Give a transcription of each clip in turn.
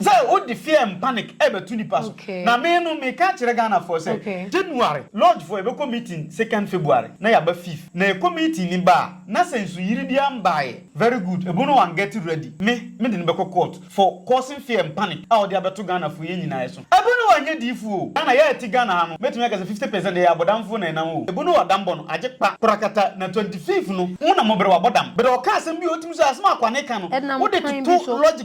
Sɛ wo de fear and panic ɛbɛto nipa so. Na me no me ka kyerɛ Ghana foɔ sɛ January lodge foɔ yɛbɛkɔ meeting second February na yɛaba fifth na yɛkɔ meeting no ba a na sɛ nsuyiri biara mbaeɛ very good ɛbo no wan get ready me me de no bɛkɔ court for causing fear and panic a ɔde abɛto Ghana foɔ yɛn nyinaa ɛso ɛbo no wan nyɛ diifoɔ o Ghana yɛ a ɛte Ghana ha no mɛtumi aka sɛ fifty percent ɛyɛ abɔdamfoɔ na ɛnam o ɛbo no wadam bɔ no agye kpa korakata na twenty fifth no mo na mo brɛ wabɔ dam brɛ ɔka asɛm bi a ɔtumi so asɛm a akwane ka no wo de toto lodge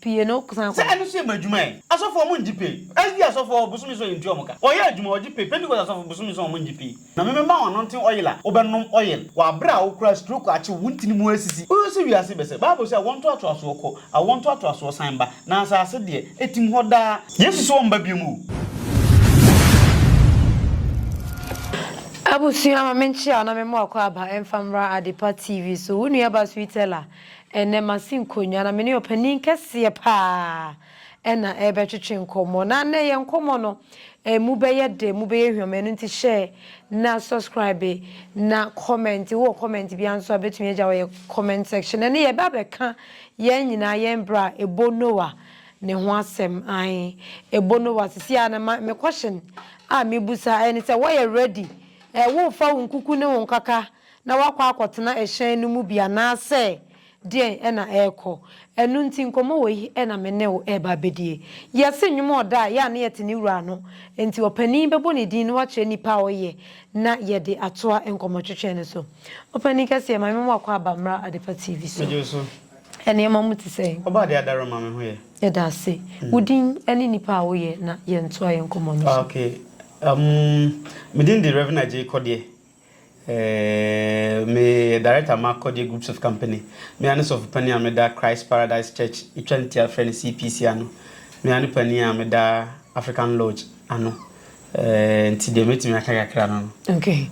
Pie no san kɔ. Sɛ ɛno nso yɛ mo adwuma ɛ? Asɔfoɔ ɔmo ngye pay. SD asɔfoɔ bosome nson yɛntua ɔmo ka. Wɔyɛ adwuma wɔgye pay. Pentecost asɔfo bosome nson ɔmo ngye pay. Na me mema wo anointing oil a wobɛnom oil. Wɔ aberɛ a wo koraa stroke akye wo, wo ntini mu asisi. Wohwɛ sɛ wiase bɛsɛ. Bible se awoɔntoatoasoɔ kɔ, awoɔntoatoasoɔ san ba, na asase deɛ, ɛtim hɔ daa. Yesu se ɔmba biom o. Abusua ma me nkyea na me mmoa kɔ aba mfa mmra Adepa TV so. Wo nua ba Sweetella. Ɛnnɛ masi nkonnwa na me ne ɔpanin kɛseɛ pa ara na ɛrebɛtwetwe nkɔmmɔ. Na nnɛ yɛn nkɔmmɔ no, ɛmu bɛyɛ dɛ, ɛmu bɛyɛ hwam. Ɛno nti share na subscribe na comment. Wowɔ comment biara nso a, wobɛtumi agya wɔ yɛn comment section. Ɛnnɛ yɛba abɛka yɛn nyinaa yɛn berɛ a ɛbɔ Noah ne ho asɛm. Ae, ɛbɔ Noah. Sisi a na ma, me question a mebusa ɛne sɛ, wɔyɛ ready? Ɛɛ, worefa wo nkuku ne wo nkaka na wakɔ akɔtena ɛhyɛn no mu bi anaasɛ deɛn na ɛrekɔ. Ɛno nti nkɔmmɔ wei na me ne wo reba abɛdie. Yɛse nnwom a ɔda a, yɛ a na yɛte ne wura ano, nti ɔpanin bɛbɔ ne din na wakyerɛ nnipa a ɔyɛ na yɛde atoa nkɔmmɔtwetwe no so. Ɔpanin kɛseɛ, Maame Mmoa kɔ aba mmra Adepa TV so. Megye wo so. Nneɛma mu te sɛn? Ɔba adeɛ adaro ma me ho yɛ. Yɛda ase. Wo din ne nnipa a woyɛ na yɛntoa yɛn nkɔmmɔ no so. Okay, umm, me din de Rev. Agyei Kɔdeɛ. Eeeii me yɛ director ma Akodeɛ groups of company me ara ne sɔfo panin a meda Christ Paradise Church etwa ne ti a frɛ no CPC ano me ara ne panin a meda African Lodge ano eeeii nti deɛ mɛtumi aka kakra no no. Okay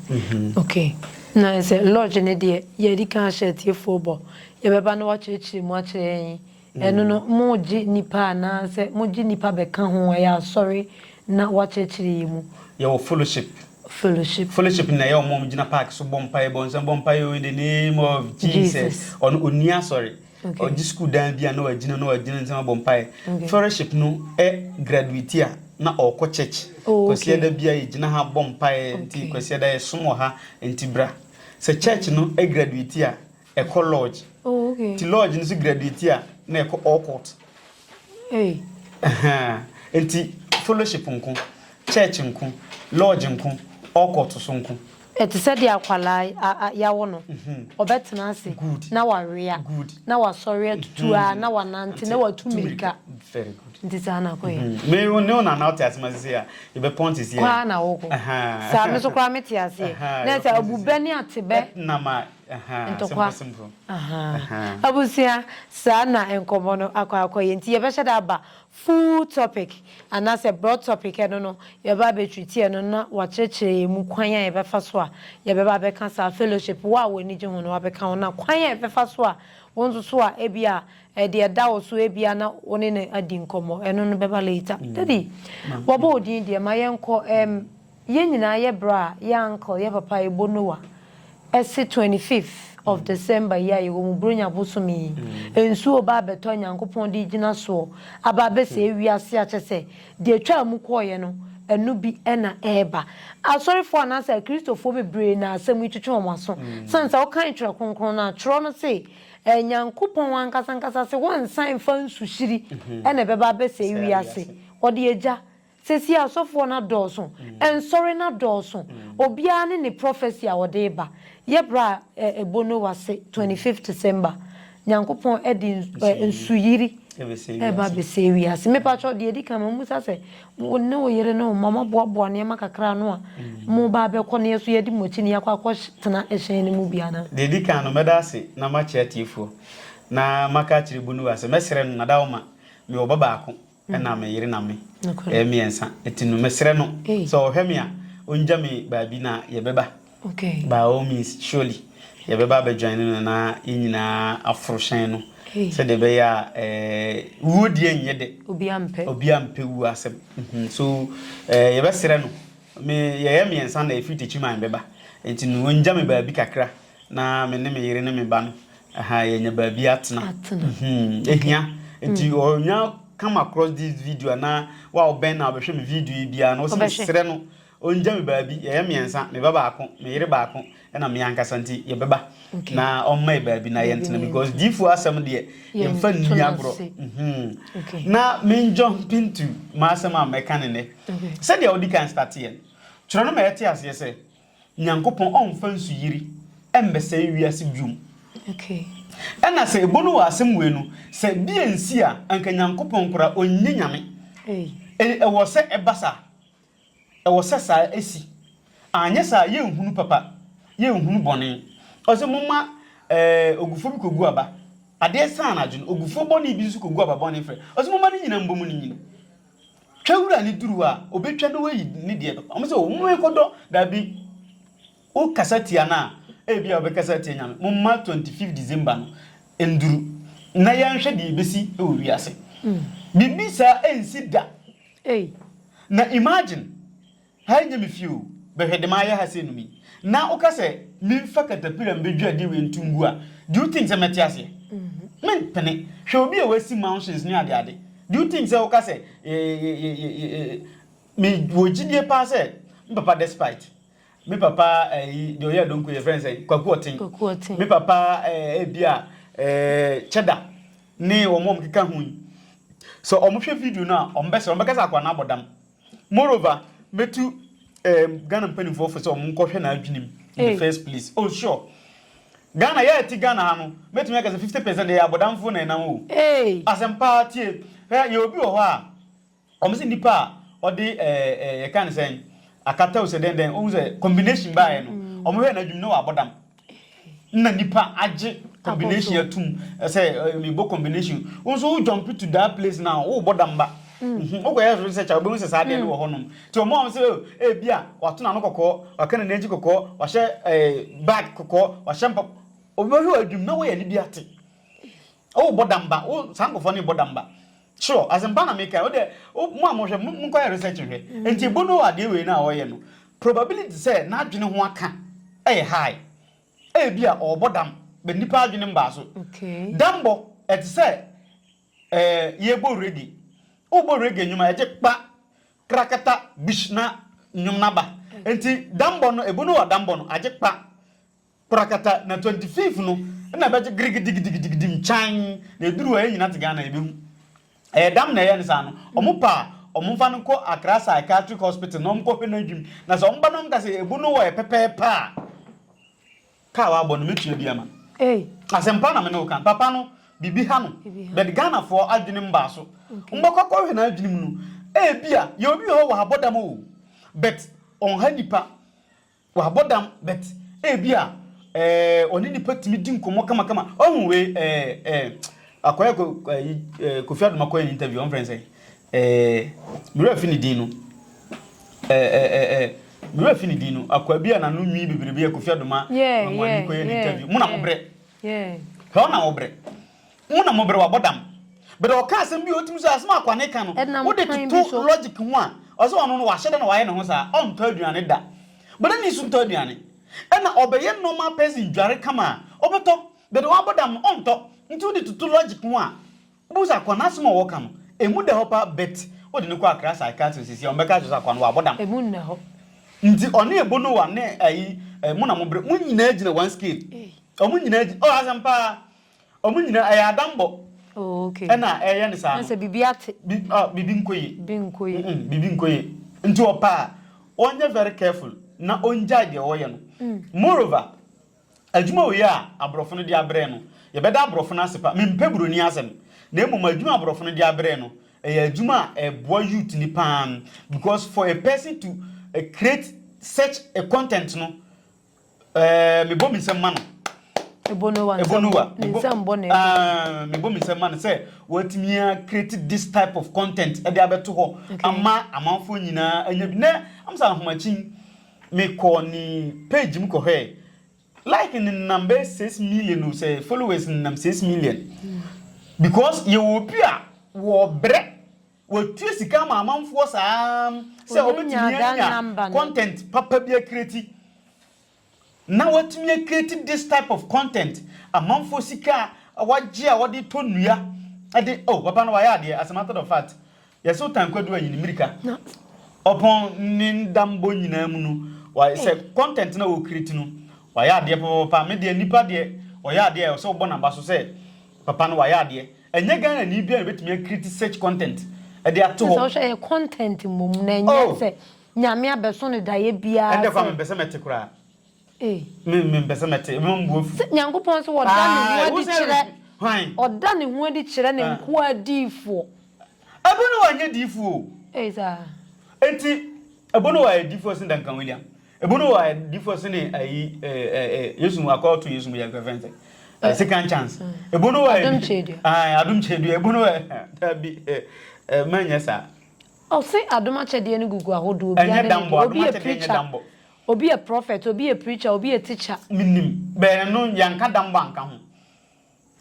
okay na sɛ lodge no deɛ yɛn adi kan ahyɛ atiefoɔ bɔ yɛbɛba na wakyerɛkyerɛ mu akyerɛ yɛn. Ɛno no, mogye nnipa anaasɛ mogye nnipa bɛka ho a, ɛyɛ asɔre na wɔakyerɛkyerɛ yɛn mu. Yɛwɔ fellowship. Fellowship. Fellowship no na ɛyɛ wɔn a wɔgyina park so bɔ mpaeɛ, bɔ nsɛm, bɔ mpaeɛ o, in the name of Jesus. Jesus. Ɔno ɔnni asɔre. Okay. Ɔgye sukuu dan bi a na wagyina na wagyina nsɛm abɔ mpaeɛ. Okay. Fellowship no ɛ graduate a na ɔkɔ church. Oh, okay. Kwasiada bia yɛgyina ha bɔ mpaeɛ nti Okay. Kwasiada yɛsom wɔ ha nti bra. Sɛ church no ɛ graduate a Ɛkɔ lodge. Oh, okay. Ti lodge no so graduate a na ɛkɔ all court. Hey. Uh-huh. Nti fellowship nko, church nko, lodge nko, all court so nko. Ɛte sɛ deɛ akwalaa yawo no, ɔbɛtena mhm. ase Good. na wawea Good. na wasɔre atutu a mhm. na wanante na watu mmirika. Very good. Nti saa na akɔyɛ. Mhm. Me wo ne wo nana wote ase ma sisi a yɛbɛpɔn te si a. Kwaa na wokɔ. Saa me so koraa mete aseɛ. Na ɛsɛ abubɛ ne atebɛ. Nam a Ntɔkwa ahaa abusua saa na nkɔmɔ no akɔ akɔ yɛ nti yɛbɛhyɛ da aba full topic anaasɛ broad topic ɛno no yɛbɛba abɛtriti ɛno na wakyerɛkyerɛ yɛn mu kwan a yɛbɛfa so a yɛbɛba abɛka saa fellowship wo a w'ani gye ho no wabɛka ho na kwan a yɛbɛfa so a wo nso so a ebia ɛde ɛda wo so ebia na wo ne no adi nkɔmɔ ɛno no bɛba later. Daddy wɔbɔ wo din deɛ ma yɛnkɔ ɛm. Yɛn nyinaa yɛ bra a yɛ uncle yɛ papa ebo nowa ɛse twenty fifth of December yi a yɛwɔ mu bronya bosome yi nsuo ba abɛtɔ a Nyankopɔn de gyina soɔ aba abɛsɛe wiase a kyɛsɛ deɛ ɛtwaa mu kɔeɛ no ɛno bi na ɛreba Asɔrefoɔ anaasɛ akristofoɔ bebree na asɛm yi twetwe wɔn aso sane sɛ wokan twerɛ kronkron no a twerɛ no se Nyankopɔn ankasa ankasa se wɔnsan mfa nsuhyiri na ɛbɛba abɛsɛe wiase wɔde agya Seesei asɔfoɔ no adɔɔso, nsɔre no adɔɔso, obiara ne ne prophecy a ɔde reba. Yɛ berɛ a ɛbɔ Noah se 25th December, Nyankopɔn de nsuyiri reba abɛsɛe wiase. Me pa kyɛw, deɛ ɛdi kan, mammisa sɛ, wo ne wo yere ne wo mma, moaboaboa nneɛma kakra ano a moba abɛkɔ na yɛ nso yɛadi mo akyi na yɛakɔ akɔtena ɛhyɛn no mu bi anaa? Deɛ ɛdi kan no, mɛda ase na makyerɛ atiefoɔ, na maka akyerɛ Bonuwa sɛ, mɛsrɛ no, Nadaoma, mewɔ ba baako. ɛna me yere na me. Yɛyɛ mmiɛnsa. Ɛti no mesrɛ no sɛ ɔhwɛ me a, ɔngya me baabi na yɛbɛba. By all means, surely. Yɛbɛba abɛ join no na yɛn nyinaa aforo hyɛn no. Sɛdeɛ ɛbɛyɛ a ɛɛ wuo deɛ nyɛ dɛ. Obiara mpɛ. Obiara mpɛ wuo asɛm. So ɛɛ yɛbɛsrɛ no, me yɛyɛ mmiɛnsa na ɛfiri Techiman bɛba. Ɛti no ɔngya me baabi kakra na me ne me yere ne me ba no Ahaa yɛanya baabi atena. Atena. Mhm, ehia. Nti ɔnya come across this video anaa wo a wobɛn na wobɛhwɛ me video yi biara no, wosɛ Ɔbɛhwɛ. mesrɛ no ɔngya me baabi, yɛyɛ mmiɛnsa, me ba baako, me yere baako, ɛna me ankasa nti yɛbɛba Okay. na ɔmma yɛ baabi na Baabi yɛntena na mu because yɛntena. diifoɔ asɛm deɛ Yɛnto yɛmfa no nni agorɔ. ase. Mhm. Okay. Na menjɔ mpintu m'asɛm a mɛka ne nnɛ. Okay. Sɛdeɛ wodi kan starteɛ no, twerɛ no ma yɛte aseɛ sɛ Nyankopɔn ɔmmfa nsuyiri mmɛsɛe wiase biom. Ɛna sɛ ebo no wɔ asɛm wei no, sɛ bi ansi a, anka Nyankopɔn koraa ɔnyɛ Nyame. Ei, ɛwɔ sɛ ɛba saa. Ɛwɔ sɛ saa ɛsi. Anyɛ saa a, yɛnhunu papa, yɛnhunu bɔne. Ɔse momma eh, ogufoɔ bi kɔgu aba. Adeɛ saa anadwo no, ogufoɔ bɔne bi nso kɔgu aba bɔne frɛ. Ɔse momma ne nyina mbɔ mu ne nyini. Twa wura ne duru a, ɔbɛtwa na wayi ne deɛ papa. Wɔn sɛ, o, mo nkɔdɔ. Dabi. Wokasa tia no a, ebia wobɛkasa atia Nyame. Momma 25 December no nnuru, na yɛnhwɛ deɛ ɛbɛsi wɔ wiase. Biribi saa ɛnsi da. Na imagine, Ha nyɛ me fie o, bɛhwɛ dema ayɛ ha sei no mi. Na woka sɛ menfa katapira mbedwiri adeɛ wei nto ngu a, do you think sɛ mɛte aseɛ? Mempene. Hwɛ obi a wasi mansions ne adeade. Do you think sɛ woka sɛ me wɔ gyidie paa sɛ me papa despite me papa ayi deɛ ɔyɛ adonko yɛfrɛ no sɛn kwaku ɔten me papa ebi a kyɛda ne wɔn a wɔkeka ho yi sɛ wɔhwɛ video no a wɔbɛsrɛ wɔbɛka sɛ akwadaa no abɔ dam Moreover, mɛtu um, Ghana mpanimfoɔ fo sɛ wɔn nkɔhwɛ n'adwene mu in the first place. Oh sure. Ghana, yɛ ɛte Ghana ha no, mɛtumi aka sɛ 50 percent ɛyɛ abɔdamfoɔ na ɛnam o. Asɛm paa tie. Hwɛ, yɛ obi wɔ hɔ a, wɔn sɛ nipa a ɔde ɛɛ ɛɛ yɛka ne sɛn akata o sɛ dɛn dɛn, ohun sɛ combination baayɛ no, wɔn hwɛ n'adwene na wabɔ dam. na nipa agye combination atum sɛ mebɔ combination wo nso wo jump to that place now wobɔ damba mhm. wokɔyɛ so sɛ kyɛ wobɛhu sɛ saa deɛ no wɔ hɔnom nti ɔma wɔm sɛ ɛbi oh, eh, a wato n'ano kɔkɔɔ waka ne n'akyi kɔkɔɔ wahyɛ eh, bag kɔkɔɔ wahyɛ mpa obɛhwɛ wɔ adwum na woyɛ ne bi ate Oh bɔ damba wo saa nkɔfɔ ne bɔ damba sure asɛmpa na meka wo dɛ mo a mohwɛ mo nkɔyɛ research hwɛ nti ebo no adeɛ wei no a ɔyɛ no probability sɛ n'adwene ho aka ɛyɛ high ɛyɛ bi a ɔbɔ dam bɛ nipa adwene mbaa so dambɔ ɛte sɛ ɛɛ yɛbɔ reggae wobɔ reggae nnwuma ɛgye kpa krakata bish na nnwom naba nti dambɔ no ebo no wɔ dambɔ no agye kpa Korakata na twenty fifth no na ɛbɛgye girigidigidigidigidim kyan na ɛduru hɔ yɛn nyina te Ghana yɛbɛhu. Ɛyɛ dam na ɛyɛ no saa no, wɔn pɛ a wɔn fa no nkɔ Accra Psychiatric Hospital na wɔn kɔ hwɛ no adwim na sɛ wɔn ba na wɔn ka sɛ ɛbu no wɔ yɛ pɛpɛɛpɛ a ka a wabɔ no mɛtua bi ama no. Asɛmpa na me ne wo ka. Papa no biribi ha no but Ghanafoɔ adwene mbaa so. Wɔbɛkɔ akɔ hwɛ n'adwene mu no ɛbia yɛwɔ bi wɔ hɔ wɔ ha bɔ dam oo but ɔnha nipa. Wabɔ dam but ebi a eh, ɔne nipa tumi di nkɔmmɔ kamakama. Ɔhu wei eh, eh, akɔyɛ ko, eh, eh, Kofi Adoma kɔyɛ ne interview, ɔmfrɛ sɛ eh, mewura fi ne din no. Eh, eh, eh, eh, mewura fi ne din no. Akwa bi a nano nwi bebrebe a Kofi Adoma yeah, ma mo yeah, ani kɔyɛ ne yeah, interview. Mo na yeah, mo brɛ. Yeah. Hɛ ɔna wo brɛ. Mo na mo bere wabɔ dam. But ɔka asɛm bi a otumi so asɛm a kwane ka no Ɛnam wode kwan bi toto so. logic ho a ɔsɛ ɔno no wahyɛ da na wayɛ ne ho saa ɔntɔ aduane da but ɛna nsu ntɔ aduane ɛna ɔbɛyɛ normal person dware kama a ɔbɛtɔ but wabɔ dam no ɔntɔ nti wode toto logic ho a wobɛhu sɛ akwa no asɛm a ɔka no ɛmu da hɔ paa but wode no kɔ akra psychiatrist sisi a ɔmbɛka kyerɛ sɛ akwa no wabɔ dam Ɛmu nna hɔ. nti ɔne ebonowa ne ayi eh, mo na mo bere mo nyinaa gyina one scale Ei. ɔmo nyinaa gyina oh asɛm paa Ɔmo nyinaa ɛyɛ adambɔ ɛna ɛyɛ no saa no. Sɛ biribi ate. Biribi nkɔ yie. Biribi nkɔ yie. Nti ɔpɛ a ɔnyɛ very careful na ɔngyae deɛ ɔɔyɛ no. Moreover, adwuma wei a aborɔfo no de abrɛ no, yɛbɛda aborɔfo no ase pa. Mempɛ buroni asɛm. Na mmom adwuma a aborɔfo no de abrɛ no, ɛyɛ adwuma a ɛboa youth no paa because for a person to create such a content no, Ɛɛ mebɔ me nsam ma no. Ebonowa. Ebonowa. Ne nsam bɔ na ɛkɔ. Mebɔ me nsam ma no sɛ wɔatumi a create this type of content ɛde abɛto hɔ ama amanfoɔ nyinaa anya bi. Nɛ amsa ahomakyin mekɔɔ ne page mu kɔhwɛɛ like no nam bɛ six million o sɛ followers no nam six million because yɛwɔ obi a wɔbrɛ Wɔtua sika ma amanfoɔ saa sɛ wɔbɛtumi anya content papa bi akreati na wɔatumi akreati this type of content, amanfoɔ sika a wɔagye a wɔde tɔ nnua de, oh papa no wayɛ adeɛ as a matter of fact, yɛse wotan kwadu ayi ne mmirika ɔpɔn ne ndambɔ nyinaa mu no, wayɛ sɛ content na wɔkreati no wayɛ adeɛ papapapa, me deɛ nipa deɛ ɔyɛ adeɛ a ɛwɔ sɛ wobɔ n'aba so sɛ papa no wayɛ adeɛ. Ɛnyɛ Ghana ni biara na obetumi a create such content de ato hɔ. Sɛ wohwɛ ɛyɛ content mmom na ɛnyɛ oh! sɛ Nyame abɛso no daeɛ biara sɛ. Ɛnde koraa mempɛ sɛ mɛte koraa. Ee. Me mempɛ sɛ mɛte, ɛbɛma me bo afu. Sɛ Nyankopɔn nso ɔda ne ho adi kyerɛ, ɔda ne ho adi kyerɛ ne nkoa adiyifoɔ. Ebono wa nyɛ diyifoɔ o. Ee saa. Enti Ebono wa yɛ diyifoɔ sen Duncan William. Ebunu wɔ ayɛ difɔ sene ayi ɛ ɛ ɛ Yesu mu akɔ to Yesu mu yɛ kɛfɛn sɛ ɛ second chance. Ebunu wɔ Adum kyedua. Ayi adum kyedua ebunu wɔ ɛ dabi ɛ ɛ mɛ nyɛ saa. Ɔse adom akyɛdeɛ no gugu ahodoɔ obiara ne ne deɛ. Ɛnyɛ dambɔ adom akyɛdeɛ nyɛ dambɔ. Obi yɛ prophet obi yɛ preacher obi yɛ teacher. Menim bɛɛ no yɛnka dambɔ anka ho.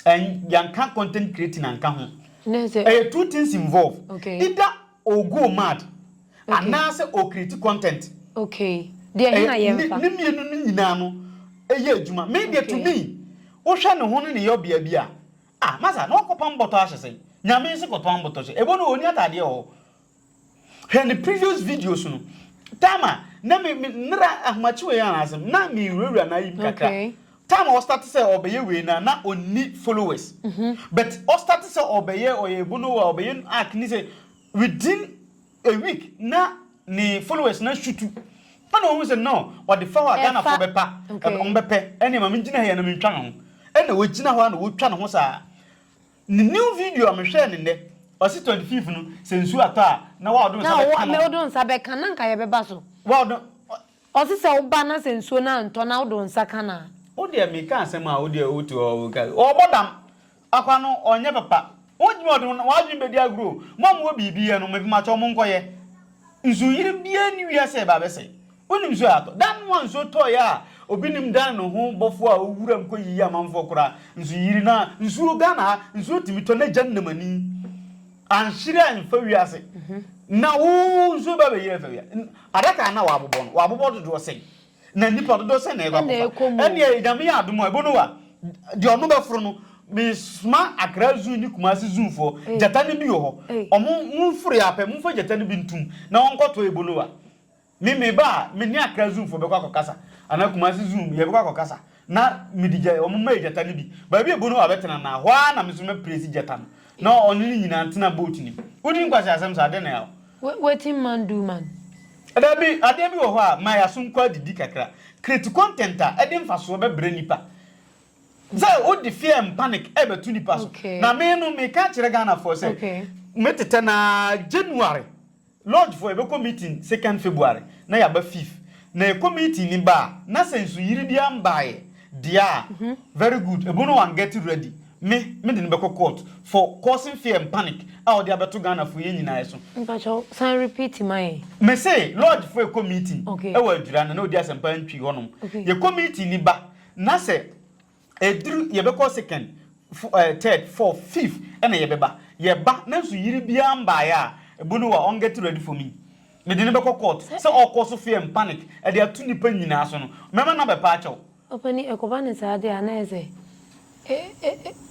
And yɛanka content creating anka ho. Dɛ sɛ. Ɛyɛ two things involved. Okay. Either ɔɔgo mad. Okay. Anaasɛ ɔɔcreate content. Okay. Deɛ he na yɛmfa? Ɛyɛ ne mmienu no nyinaa no yɛ adwuma. Me deɛ to me, wohwɛ ne ho ne ne yɔbea bi a, ah, masa na ɔkɔpam bɔtɔ ahyɛ sɛn? Nyame nse kɔtɔn bɔtɔ hyɛ. Ebo no ɔnni ataadeɛ wɔ hɔ. Hwɛ ne previous videos no. Time a na me me nera ahomakye wei ara asɛm na me wurawura na ayim kakra. Okay. Time a ɔstart sɛ ɔbɛyɛ wei na na ɔnni followers. Mm -hmm. But ɔstart sɛ ɔbɛyɛ ɔyɛ bonowa ɔbɛyɛ act ni sɛ within a week na ne followers na shutu. Ɛna ɔhu sɛ no ɔde fa hɔ a Ghana fo bɛpa ɔmbɛpɛ ɛne ma me gyina ha yɛ na mentwa ne ho. Ɛna ɔgyina hɔ a na ɔtwa ne ho saa. Ne new video a me hwɛɛ no nnɛ, ɔse twenty fifth no sɛ nsuo atɔ a na wa ɔdo nsa bɛ ka no. Na ɔdo nsa bɛ ka na nka yɛ bɛ ba so. Wa ɔdo. Ɔse sɛ wo ba na sɛ nsuo no antɔ na wo do nsa ka no a. Wo deɛ me ka asɛm a wo deɛ wo te hɔ wo ka. Ɔbɔ dam. Akwa no ɔnyɛ papa. Wo gyimi ɔde wo adwene bɛ di agorɔ o. Mo a mo wɔ biribi yɛ no me mpakyɛw mo nkɔ yɛ. Nsuo yere biara nni wiase a ɛba abɛsɛe. Wonim nsuo a atɔ. Da no a nsuo tɔeɛ a obi nnim Dan ne ho bɔfoɔ a ɔwɔ wuram kɔyiyii amanfoɔ koraa nso yiri no a nsuo Ghana ha nsuo tumi tɔ n'agya nnamani anhyere amfa wiase na wo nsuo ba bɛyiri afa wia adaka a na wɔabobɔ no wɔabobɔ dodoɔ sɛn na nnipa dodoɔ sɛn na ɛkɔ Ɛna akɔfa ɛkɔ mu. ɛneɛ nyame yɛ adom a ɛbɔ no wa deɛ ɔno bɛforo no mesoma akra zoo ne kumase zoofoɔ Ei. gyata no bi wɔ hɔ Ei. ɔmo moforo yɛ apɛ momfa gyata no bi ntom na wɔnkɔtɔ ɛbɔ no wa Me me ba a me ne akra zoom foɔ bɛkɔ akɔ kasa anaa kumasi zoom yɛbɛkɔ akɔ kasa na me de gya wɔn mɛyɛ gyata no bi baabi ebu no hɔ abɛtena na hɔ ara na me nso mɛ presi gyata no na ɔne ne nyinaa ntena boat nim wodi nkwasi asɛm saa adeɛ na yaw. Wetin man do man. Dabi adeɛ bi wɔ hɔ a ma yɛ aso nkɔ adidi kakra create content a ɛde nfasoɔ bɛbrɛ nipa sɛ wode fear and panic ɛbɛto nipa so na me no meka akyerɛ Ghana foɔ sɛ metetɛ no ara January. Lodge foɔ yɛbɛkɔ meeting second February na yɛaba fifth na yɛkɔ meeting ni ba a na sɛ nsuyiri biara mbaeɛ deɛ a very good ɛbo no wɔn get ready me me de no bɛkɔ court for causing fear and panic a ɔde abɛto Ghana foɔ yɛn nyinaa so. Mpakyɛw san repeat ma yɛn. Me se lodge foɔ yɛkɔ meeting ɛwɔ adwira na na ɔdi asɛmpa ntwi hɔ nom yɛkɔ meeting ni ba na sɛ. Ɛduru yɛbɛkɔ second, third, fourth, fifth ɛna yɛbɛba. Yɛba nanso yere biara mbaeɛ a, ɛbu no wa ɔn get ready for me. Mede no bɛkɔ court sɛ ɔkɔ so fear and panic ɛde ato nnipa nyinaa so no. Mɛma number paa akyɛ wo. Ɔpanin, ɛkɔba no saa deɛ a na ayɛ sɛ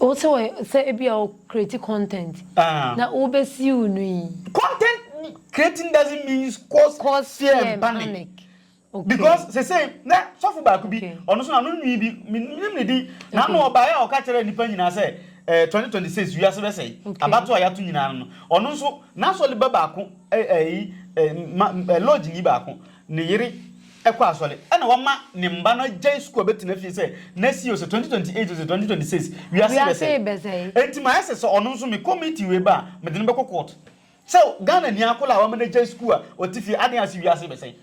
wo sɛ wɔ sɛ ebia wo create content na wobɛsiw no yi. Content creating doesn't means cause fear and panic. Because sesei na sɔfo baako bi, ɔno nso na no nwi bi, menim ne din, na ano ɔbaeɛ a ɔka kyerɛɛ nnipa nyinaa sɛ eh, 2026 wiase bɛsɛe, abatoɔ a yɛato nyinaa no no, ɔno nso n'asɔre ba baako, eh, eh, eh, ma, eh, lodge ni baako, ne yere ɛkɔ asɔre, ɛna wama ne mma no agyae sukuu a bɛtena fie sɛ nɛsi o sɛ 2028 o sɛ 2026 wiase bɛsɛe. Enti mayɛ sɛ sɛ ɔno nso mekɔ meeting wei ba a, mede no bɛkɔ court. Sɛ Ghana ni akɔla a wama no agyae sukuu a ɔte fie aden ase wiase rebɛsɛe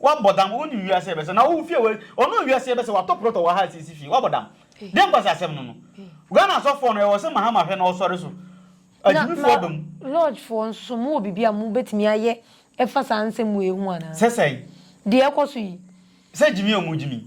wabɔ dam wonim wiase rebɛsɛe na wowo fie wɔ ɔno wiase rebɛsɛe watɔ plot wɔ ha asiesie fie wabɔ dam deɛ mpa sɛ asɛm no no Ghana asɔfoɔ no ɛwɔ sɛ Mahama hwɛ na ɔsɔre so agyimifoɔ aba mu. Na lodge foɔ nso mo wɔ biribi a mo bɛtumi ayɛ ɛfa saa nsɛm wei ho anaa? Sɛ sɛn? Deɛ ɛkɔ so yi. Sɛ gyimi ɔmo gyimi.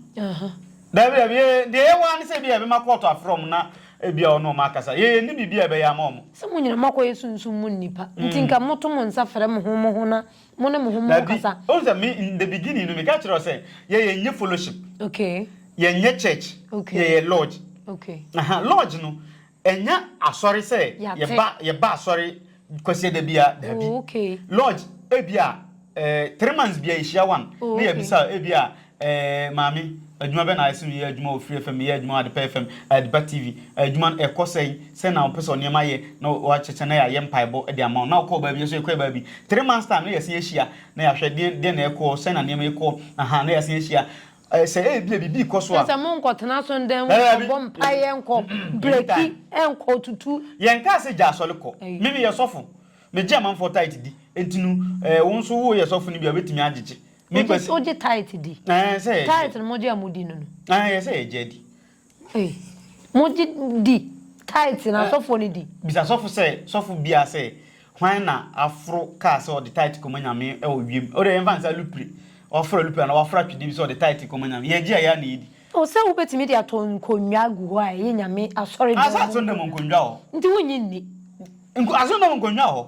Dabi dabi yɛ deɛ yɛ waa ne sɛ ebi a yɛbɛma kɔɔto afrɛ ɔmo na ebi a ɔne ɔmo akasa. Yɛ yɛ nni biribi a yɛbɛyɛ ama ɔmo. Sɛ mo nyina mo akɔ yɛ sunsum mu nnipa nti nka mo to mo nsa frɛ mo ho mo ho na mo ne mo ho mo nkasa. Dabi ohu sɛ me in the beginning no me ka kyerɛ wo sɛ yɛ yɛ nyɛ fellowship. Okay. Yɛ nyɛ church. Okay. Yɛ yɛ lodge. Okay. Aha lodge no Ɛnyɛ asɔre sɛ yɛba yɛba asɔre kwasiada bia daabi. Lodge ebia eh, three months bia yɛhyia one na yɛbisa ebia eh, maame adwuma bɛ na ayɛ sɛ meyɛ adwuma wɔ Free FM, meyɛ adwuma wɔ Adepa FM, Adepa TV, adwuma no ɛkɔ sɛn, sɛn na wopɛ sɛ ɔnneɛma ayɛ na wɔakyekyɛ na yɛayɛ mpaebɔ de ama wo na wokɔɔ baabi yɛso yɛkɔɛ baabi three months time na yɛasen ahyia na yɛahwɛ deɛn deɛn na ɛkɔɔ sɛn na nneɛma ɛkɔɔ aha na yɛasen ahyia Ɛ, sɛ ebia biribi rekɔ so Kyerɛ a. sɛ monkɔtena asɔredan mu Daabi. nkɔbɔ mpaeɛ, nkɔ Mm-mm. breki, Anytime. nkɔ tutu. Yɛnkaa sɛ gya asɔre kɔ. Ei. Me meyɛ sɔfo. Megye amanfoɔ tithe di. Enti no, ɛɛ, wo nso woyɛ sɔfo no bi a, wobɛtumi agyegye. Wogye, Menkɔ ase. wogye tithe di? Ɛɛ, ɛsɛ sɛ yɛgye. Tithe no mogye a modi no no. Ɛɛ, ɛsɛ sɛ yɛgye adi. Ei, mo gye di, tithe na asɔfoɔ no di. Bisa sɔfo sɛ, sɔfo biara sɛ, hwan na aforo kaa sɛ ɔde tithe kɔma Nyame wɔ wiem? Wode yɛmfa no sɛ alupre, waforo alupre anaa waforo atwedeɛ bi sɛ ɔde tithe kɔma Nyame. Yɛgye a, yɛ a na yɛdi. O, sɛ wobɛtumi de ato nkonnwa agu hɔ a ɛyɛ Nyame asɔredɔm mu nkonnwa. Nti wonnye nni. Asɔredɔm nkonnwa wɔ hɔ.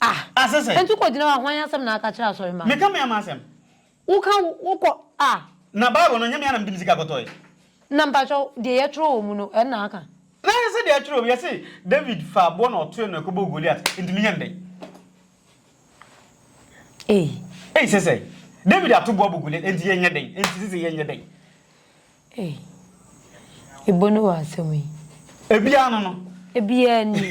Ah! Ah, sɛ sɛ. Enti kɔgyina hɔ a, hwan asɛm na aka kyerɛ asɔremma no? Meka me ama asɛm. Woka wo, wokɔ, ah! Na Bible no, ɛnyɛ me ara na mede me sika kɔtɔeɛ. Na mpakyɛw, deɛ yɛtwerɛ wɔ mu no, ɛno na aka? Na ɛyɛ sɛ deɛ yɛtwerɛ wɔ mu, yɛse, David faa aboɔ na ɔtoee no kɔbɔɔ Goliat, enti menyɛ no dɛn? Ei! Ei, sɛ sɛ. David ato boɔ abɔ Goliat, enti yɛnyɛ dɛn? Enti sɛ sɛ yɛnyɛ dɛn? Ei. Ibo ne w'asɛm yi. Ebiaa no no. Ebiaa ni.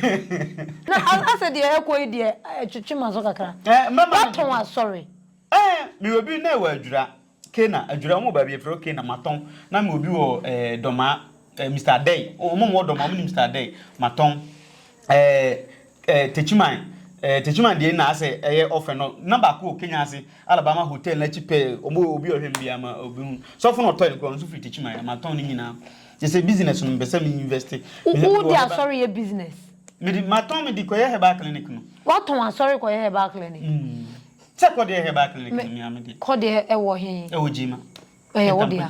Na asɛ deɛ ɛkɔ yi deɛ ɛtwetwe m'aso kakra. Eh, mɛma no. Watɔn asɔre. Eh, me wɔ bi na ɛwɔ Adwira. Kena, Adwira, wɔn wɔ baabi yɛfrɛ hɔ Kena, matɔn. Na me wɔ bi wɔ eh, Dɔmaa, eh, Mister Adɛi. Wɔn wɔ Dɔmaa, wɔn nim Mister Adɛi, matɔn. Ɛɛ ɛɛ Techiman ɛɛ Techiman deɛ na asɛ ɛyɛ ɔfɛ no na baako wɔ Kenya ase Alabama hotel n'akyi pɛɛ ɔmo obi ɔhwɛ no biara ma obi hu sɔfo na ɔtɔn no koraa ɔno nso firi Techiman ama tɔn ne nyinaa kyɛ sɛ business no mepɛ sɛ me invest Wo wo de asɔre yɛ business? Me de ma tɔn me de kɔyɛ herbal clinic no. Watɔn asɔre kɔyɛ herbal clinic? Mm sɛ kɔ deɛ herbal clinic no mea me de. Kɔ deɛ ɛwɔ he? Ɛwɔ Gyema. Ɛyɛ wo dea.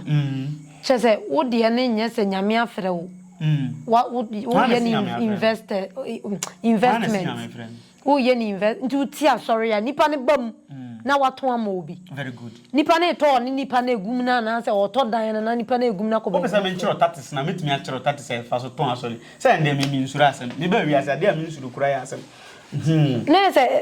Kyerɛ sɛ wo deɛ no nyɛ sɛ Nyame afrɛ wo. Wo yɛ no invested investment. Wo yɛ no invest nti wo ti asɔre a nipa no ba mu na wato ama obi. Nipa no retɔ ɔne nipa no agum no anaa sɛ ɔretɔ dan no na nipa no agum no akɔ baabi foforɔ. Wopɛ sɛ menkyerɛ tatis na mɛtumi akyerɛ wo tatis a yɛfa so tɔn asɔre. Sɛ ɛndeɛ me mensuro asɛm. Mebaa wiase adeɛ a mensuro koraa yɛ asɛm. Hmmm. Na yɛ sɛ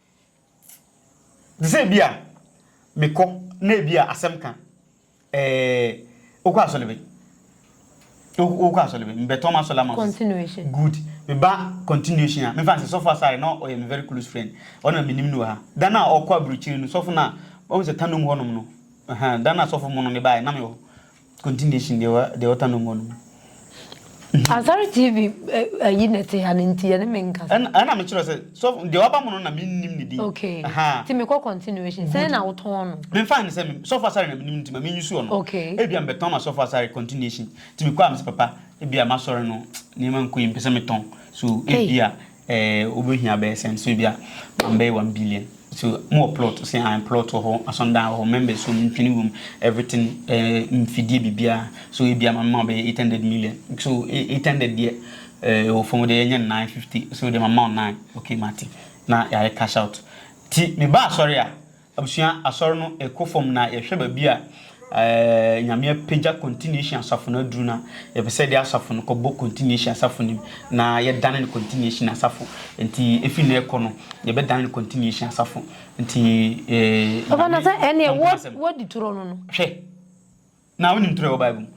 Te sɛ ebia mekɔ na ebia asɛm ka eh, wokɔ asɔre bɛ? Wokɔ asɔre bɛ? Mebɛtɔn m'asɔre ama wo. Continuation. Good. Meba continuation a, memfa nsɛ Sɔfo Asare na ɔyɛ me very close friend. Ɔno na menim no wɔ ha. Da no a ɔkɔ aburokyiri no, sɔfo no a, wahu sɛ tannom hɔnom no, ɛhɛn, da no a sɔfo mono me baeɛ, na mewɔ hɔ. Continuation deɛ wa deɛ ɔta no mɔ no mu. Asare TV eh, ayi na ɛte ha no nti yɛne me nkasa. Ɛna ɛna me kyerɛ sɛ so deɛ waba mu no na me nnim ne din. Okay. Aha. Ti me kɔ continuation. Sɛn na wotɔn no? Me nfa ne sɛ me sɔfo asare na me nim nti ma me nyusu ɔno. Okay. Ebi a me bɛtɔn ma sɔfo asare continuation. Ti me kɔ a me sɛ papa ebi a ma sɔre no nneɛma nkɔ yi me pɛ sɛ me tɔn. So ebi a Eh wobɛhia bɛyɛ sɛn so ebia ma mbɛyɛ one billion so mo wɔ plot ɔse ae plot wɔ hɔ asɔndan wɔ hɔ members wɔ mu ntwene wɔ mu everything eh mfidie biribiaa so ebia ma mema wo bɛyɛ eight hundred million so eight hundred deɛ eh ɛwɔ fam deɛ yɛnyɛ no nine fifty so deɛ ma mema wo nine okay mate na yɛayɛ cash out ti meba asɔre a. Abusua Asɔr no kɔ famu na yɛhwɛ baabi a Nyame apegya Continuation Asafo no aduru no a, yɛpɛ sɛ yɛde asafo no kɔbɔ Continuation Asafo no mu na yɛdane no Continuation Asafo. Ntsi efi nnɛ rekɔ no, yɛbɛdane no Continuation Asafo. Ntsi, Nyame, Ɔnko asɛm. Hwɛ! Na wonim toro a ɛwɔ Bible mu.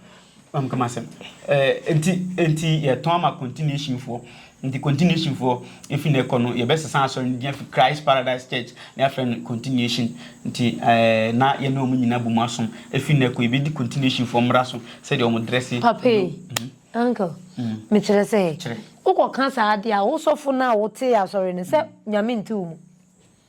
Mam kama asɛm. Eh, nti, nti yɛtɔn ama continuation foɔ. Nti continuation foɔ, efi na ɛkɔ no, yɛbɛsesa asɔre no din afi Christ Paradise Church na yɛafrɛ no continuation. Nti eh, na yɛne wɔn nyinaa bom asom. Efi na ɛkɔ, yɛbɛdi continuation foɔ mmara so, sɛdeɛ wɔn dresse. Papa yi, mhm. uncle, mm. mekyerɛ sɛ, wokɔka saa adeɛ a, wo sɔfo no a wotee asɔre no, sɛ mm. nyame nte wo mu.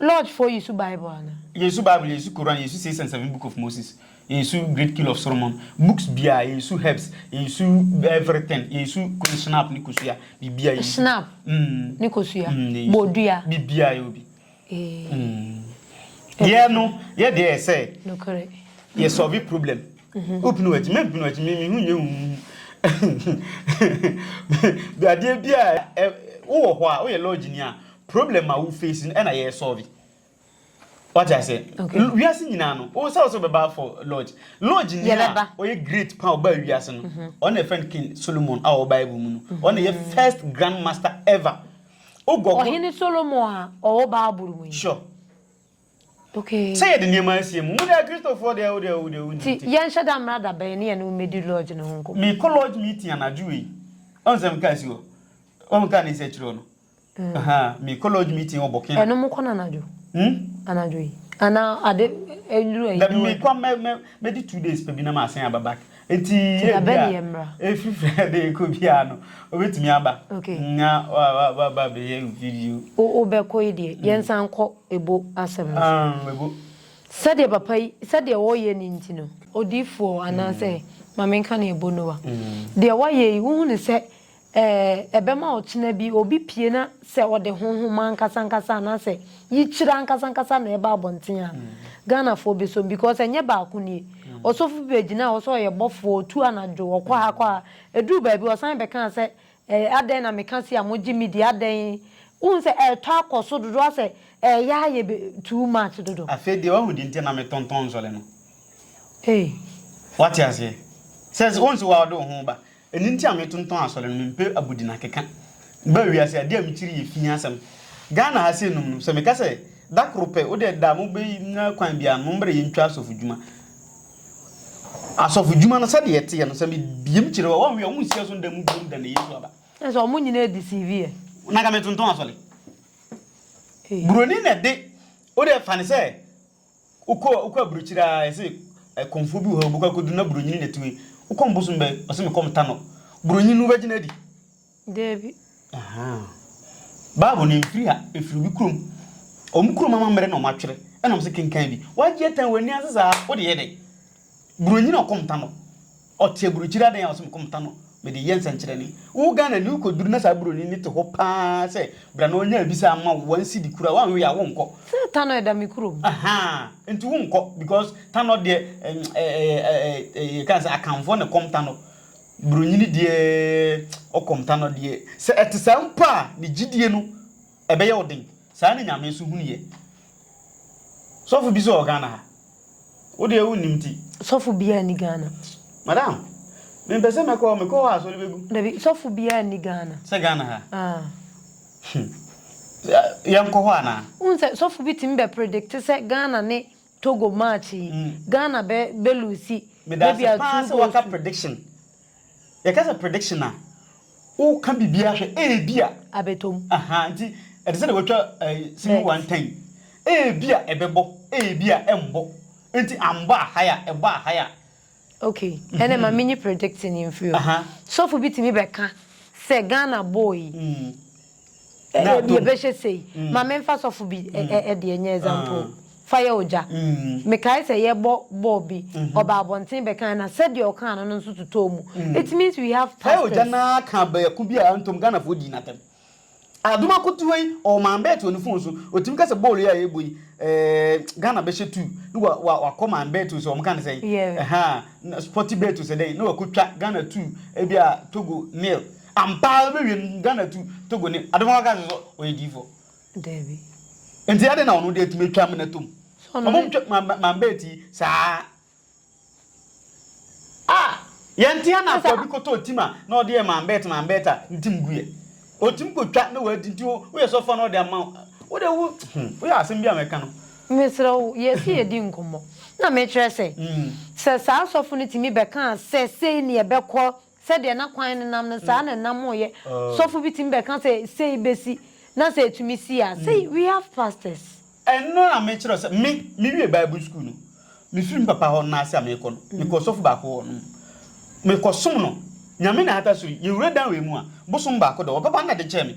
Lodge foɔ yesu bible anaa. Yesu bible yesu koran yesu six and seven book of moses yesu great kill of soromon books biaa yesu herbs yesu everything yesu kunu snap ne kosua bibia yesu snap mm ne kosua mm ne yesu bodua bibia yɛ obi ee mm yɛ no yɛ deɛ yɛ sɛ nokore yɛ solve problem mhm. opinu akyi mɛ mpinu akyi mimi hu nyɛ hu adeɛ bi a wowɔ hɔ a woyɛ lodge ni a Problem a wo face no ɛna yɛ solve. Wate ase? Wiase nyinaa no, wo sɛ wo sɛ bɛba for lodge. Lodge ni a ɔyɛ great pa ɔba wiase no, ɔno na ɛfɛn King Solomon a ɔwɔ Bible mu no. Ɔno na ɛyɛ first grand master ever. Wo gɔgɔ. Ɔhene Solomon a ɔwɔ Bible mu yi. Sure. Okay. Sɛ yɛde nneɛma asie mu, wo deɛ Kristofoɔ deɛ wo deɛ wo deɛ wo nti. Ti yɛnhyɛ da mmra da bɛn ne yɛne wo mmɛdi lodge no ho nkɔmmɔ. Mekɔ lodge meeting anadwo wei. Ɔn sɛ meka asi hɔ. Ɔn meka ne nsa akyiri hɔ no. Ɛno mokɔ no anadwo? Hmm? Anadwo yi. Ana ade enduru ayi. Dabi mekɔ mɛ mɛ mɛdi two days pɛ bi na masan aba back. Eti yɛ bi a. Efiri fɛ de ekɔ bi a no obetumi aba. Okay. Nya wa wa wa ba bɛ yɛ video. O o bɛ kɔ yi deɛ hmm. yɛn san kɔ ebo asɛm no. Um ebo. Sɛdeɛ papa yi sɛdeɛ ɔyɛ ne nti no odiifoɔ anaasɛ hmm. maame nka ne ebo no wa. Hmm. Deɛ wayɛ yi wohu ne sɛ Ɛɛ, ɛbɛma ɔkyena bi obi pue na sɛ ɔde honhom ankasankasa anaasɛ yikyerɛ ankasankasa na ɛreba abɔnten a, Ghanafoɔ bɛsɔ mu because ɛnyɛ baako nie. Ɔsɔfo bi bɛgyinaa hɔ sɛ ɔyɛ bɔfoɔ, ɔtu anadwo, ɔkɔ ha kɔ ha. Ɛduruu baabi ɔsan bɛkaa sɛ, Ɛɛ, adɛn na meka sei a mogye me di, adɛn? Wohu sɛ ɛretɔ akɔ so dodo ara sɛ ɛreyɛ ayɛ be too much dodo. Afei deɛ wahu deɛ nti a na metontɔn nsɔre no. Ei. Woate aseɛ? Sɛ, wohu sɛ wo ara wode wo ho reba. Ɛno nti a metontɔn asɔre no, mempɛ abodin akeka. Mebaa wiase a, adeɛ a mekyiri yɛ fi asɛm. Ghana ha sei nom no, sɛ meka sɛ, da koro pɛ, wo deɛ da a mobɛnya kwan biara no, mommrɛ yɛntwa asɔfodwuma. Asɔfodwuma no, sɛdeɛ ɛteɛ no, sɛ mebiem kyerɛ wo a, woanwie a, wonsia so nda mu biom da na Yesu aba. Kyerɛ sɛ, wɔn nyinaa deceive yɛ. Na anka metontɔn asɔre. Buroni na ɛde, wo deɛ fa no sɛ. Wokɔ wokɔ aburokyire aa yɛse ɛ kɔmfoɔ bi wɔ ha wobɛkɔ akɔduru na buronyini na tumi wokɔm bosom bɛ ɔse me kɔm ta no buronyini no wobɛgye no adi? Daabi. Ahaa Bible no ɛmfiri ha ɛfiri obi kurom ɔmo kurom amammerɛ na ɔmo atwerɛ ɛna ɔmo se kenkan bi wagye atɛn w'ani ase saa wode yɛ dɛn buronyini ɔkɔm ta no Ɔte aburukyiri adan a ɔse mekɔ meta no mede yɛ nsɛnkyerɛnne. Wo Ghana ni wokɔduru na saa buroni no te hɔ paa sɛ bra na ɔnya abisa ama wo one cedi koraa woanwe a wonkɔ. Sɛ Tanɔ ɛda me kurom. Ahaa nti wonkɔ because Tanɔ deɛ ɛɛ yɛka sɛ Akanfoɔ na ɛkɔm Tanɔ. Buronyini deɛ ɔkɔm Tanɔ deɛ sɛ ɛte saa mpo a ne gyidie no ɛbɛyɛ wo den. Saa na Nyame nso hunu yɛ. Sɔfo bi nso wɔ Ghana ha Wo deɛ wo nim ti. Sɔfo biara ni Ghana. Madam, me mpɛ sɛ mɛkɔ, mekɔ hɔ a sɔre bɛgu. Dabi, sɔfo biara ni Ghana. Sɛ Ghana ha? Ah. Hmm. Yɛn kɔ hɔ anaa? N sɛ sɔfo bi tumi bɛ predict sɛ Ghana ne Togo match yi, hmm. Ghana bɛ bɛ lose. Maybe a two goals. Medase paa sɛ waka prediction. Yɛka sɛ prediction a, woka biribiara hwɛ, ebia. Abɛtɔm. Aha, nti ɛte sɛ deɛ watwa ɛyi sini wantan. Ebia ɛbɛbɔ, ebia ɛmbɔ. Nti ambɔ a, ha ya, ɛbɔ a, ha ya. Okay, ɛnna ma menyi predicting mfiri hɔ. Aha. Sɔfo bi tumi bɛka sɛ Ghana bɔɔ yi, Ebia bɛhyɛ sei. Ma memfa sɔfo bi deɛ nyɛ example. Fa yɛ ogya. Mekae sɛ yɛbɔ bɔɔl bi, ɔbaa abɔnten bɛkae na sɛdeɛ ɔkaa no no nso totɔɔ mu. It means we have pastors. Fa yɛ ogya no ara ka baako bi a antom Ghanafoɔ dii no atɛm. Adom Akotuo yi, ɔwɔ man bɛɛt wɔ ne phone so. Ɔtumi ka sɛ bɔɔl yi a yɛbɔ yi, eh, Ghana bɛhyɛ two. Ne wa, wa, wakɔ man bɛɛt o sɛ wɔn ka no sɛn? Yeah. Ɛhaa, Sporty bɛɛt o sɛ dɛn? Ne wakɔtwa Ghana two, ebia Togo nil. Ampa ara wobɛwie no Ghana tu Togo ni ade foforo ka sɛ sɛ ɔyɛ diifoɔ. Dabi. Nti adɛn na ɔno deɛ atumi atwa amena tom? So ɔno ne. Ɔmo ntwa manbaa ti saa. Ah! Yɛnte ana Ɛsɛ. Akwaabi kɔtɔɔ tim a na ɔde yɛ manbɛɛt manbɛɛt a ntim gu yɛ. Ɔtumi kɔtwa na wadi nti wo woyɛ sɛ ɔfa na ɔde ama wo. Wo deɛ wo hmm woyɛ asɛm bi a mɛka no. Mesrɛ wo yɛsi yɛdi nkɔmmɔ na mekyerɛ sɛ sɛ saa sɔfo no tumi bɛkaa sɛ sei ne ɛbɛkɔ Sɛdeɛ na kwan no nam no, saa na ɛnamoeɛ. Sɔfo bi tumi bɛka sɛ, Sei bɛsi, na sɛ ɛtumi si a, sei, we have pastors. Ɛno na mekyerɛ wo sɛ, me, mewie Bible sukuu no, mefiri me papa hɔ no na ase a merekɔ no, mekɔɔ ɔsɔfo baako hɔ nom. Mekɔsom no. Nyame na ahata so yi, yɛwura dan wei mu a, bosom baako dɔ, ɔbɛba na de kyɛɛ me.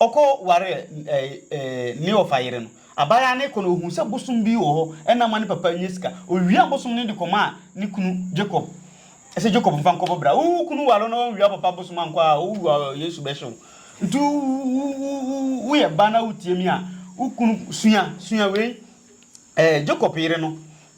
Ɔkɔ waree Kleofa yere no. Abaayaa no rekɔ no, ohuu sɛ bosom bi wɔ hɔ, ɛnna amma ne papa annya sika. Owiaa bosom no de kɔmaa ne kunu Jacob sɛ, Jacob, mfa nkɔbɔ bra. Wo kunu ware wo na wanwia wo papa bosom ankɔ a, wuwu a, Yesu bɛhye wo. Nti woyɛ ba na wutie me a, wo kunu, sua, sua wei. Jacob yere no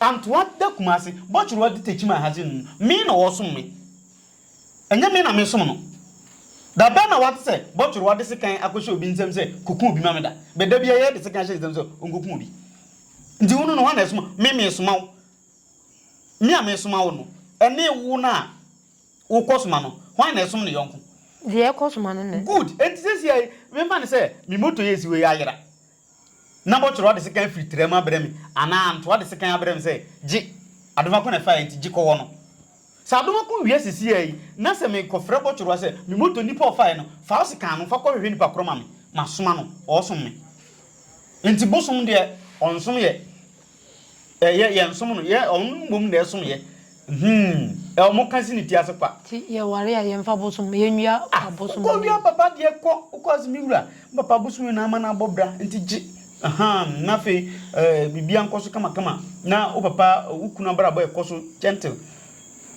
Antoa da Kumase, Bɔkyerwa di Tekyim Ahase no mu. Me na ɔresom me. Ɛnyɛ me na meresom no. Da bɛn na woate sɛ Bɔkyerwa de sekan akɔhyɛ obi nsam sɛ, Koku obi ma me da? Bɛ da biara yɛde sekan hyɛ ne nsam sɛ ɔnkɔku obi. Nti wo no no, hwan na ɛsoma? Me meresoma wo. Me a meresoma wo no, ɛne wo no a wokɔsoma no, hwan na ɛsom ne yɔnko? Deɛ ɛkɔsoma no na ɛsom. Good! Enti seesei mema no sɛ me moto yi a ɛsi hɔ yi ayera. na bɔtɔrɔ ade sekan afiri tra mu abrɛ me, anaa ntoa ade sekan abrɛ me sɛ, Gye, Adomako na ɛfaeɛ nti, gye kɔwɔ no. Sɛ Adomako wia sisiaa yi, na sɛ mekɔfrɛ bɔtɔrɔ sɛ, Me moto nipa a ɔfaeɛ no, fa wo sekan no, fa kɔhwehwɛ nipa korɔ ma me, masoma no, ɔɔsom me. Nti bosom deɛ, ɔnsom yɛ. Ɛ yɛ yɛ nsom no yɛ ɔmo no mmom na ɛsom yɛ hmm ɛ ɔmo ka si ne ti ase kwa. Ti yɛ ware a yɛ nfa bosom yɛ nwia ah bosom ɔmo yɛ. Wokɔ wia papa deɛ kɔ wokɔ ase me wura me papa bosom yɛ na ama no abɔ bra nti gye ahaa na afei ɛɛ biribiara nkɔ so kama kama na wo papa wo kunu abrabɔ ɛkɔ so gentle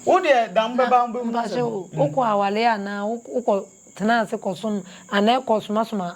wo deɛ da mo bɛba mo bɛ hu asɛm. Mpakyɛw wokɔ aware anaa wokɔ tena ase kɔ som anaa ɛkɔ soma soma.